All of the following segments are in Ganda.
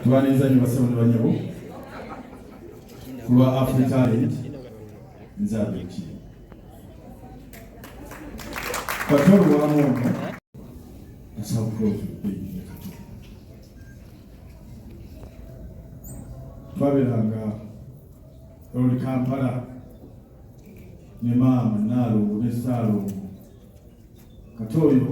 tubaniriza nyo basebo ne banyabo kulwa afri talent nze abeki katolwamu ono twaberanga oli kampala ne maama naalongo ne saalongo kati oyo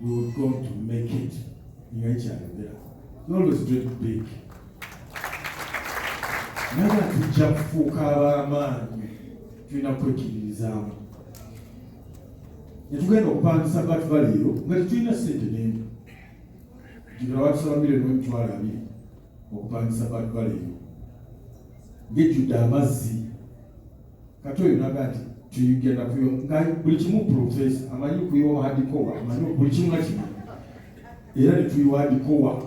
we were going to make it nga ekyayogera you always dream big naye nga tujja kufuuka ab'amaanyi tulina kwekiririzaamu netugenda okupangisa batu baleero nga tetulina sente nene jibira batusaba milioni emitwalo abiri okupangisa batu baleero ngejjudde amazzi kati oyo naga nti tuyigenda kuyo nga buli kimu profesa amanyi kuyiwa hadikowa amanyi buli kimu nga kimu era netuyiwa hadikowa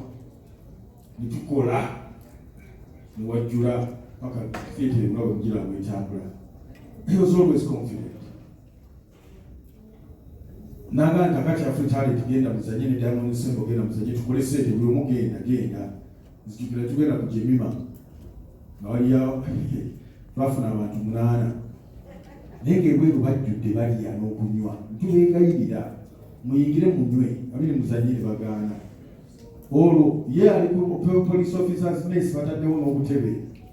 netukola newajjula paka theatre nga wejjira wetambula he was always confident Nanga nti akati afe talenti genda muzanye ne Diamond Nsembo genda muzanye tukole sente buli omu genda genda nzijukira tugenda ku Jemima nga waliyo twafuna abantu munaana naye ng'ebweru bajjudde balya n'okunywa ntubegayirira muyingire munywe abiri muzanye ne bagaana olwo ye ali ku police officers mess bataddewo n'obutebe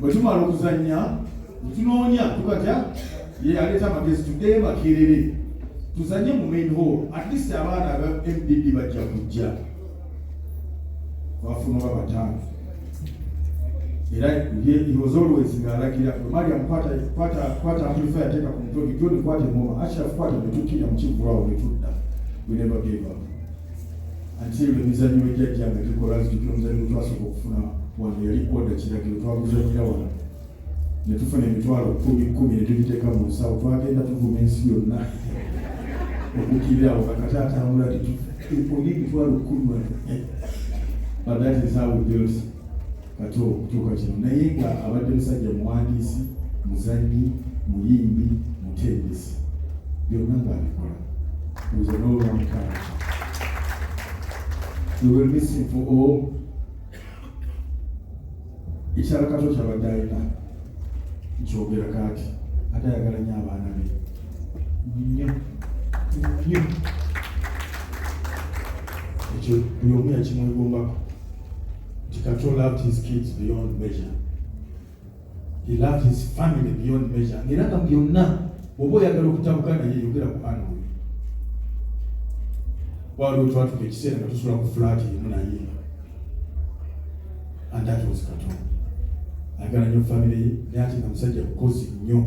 bwe tumala okuzannya netunoonya tukatya ye aleeta amagezi tuddeyo makerere tuzanye mu main hall at least abaana aba mdd bajja kujja bafuna oba bataano era he was always ng'alagira mariam kwata amplifier ateeka ku mutwe bijoni kwata engoma ashraf kwata netukkirira mu kivvulawo netudda we never gave up Ate ebyo emizannyo we jjajja nga gikola nzijukira omuzannyo gwe twasooka okufuna wano yali oda kiragiro twaguzannyira wano ne tufuna emitwalo kumi kumi ne tugiteeka mu nsawo twagenda tuvuma ensi yonna okukirira awo kakati atambula titufu emitwalo kumi but that is how we build kati okutuuka kino naye nga abadde musajja muwandiisi muzanyi muyimbi mutendesi byonna ngaabikola nze n'olwamukaaka ewemisinfu o ekyalakato kyabadde alina nkyogera kaati ate ayagala nyo abaana be nyo nyo ekyo buli omu yakimwegombako nti katonda loved his kids beyond measure he loved his family beyond measure ngaera nga byonna oba oyagala okutabuka naye yogera ku ana oyo waliwo twatuka ekiseera nga tusula ku fulaati emu naye and that was katonda ayagala nyo famire ye naye ati nga musajja mukozi nnyo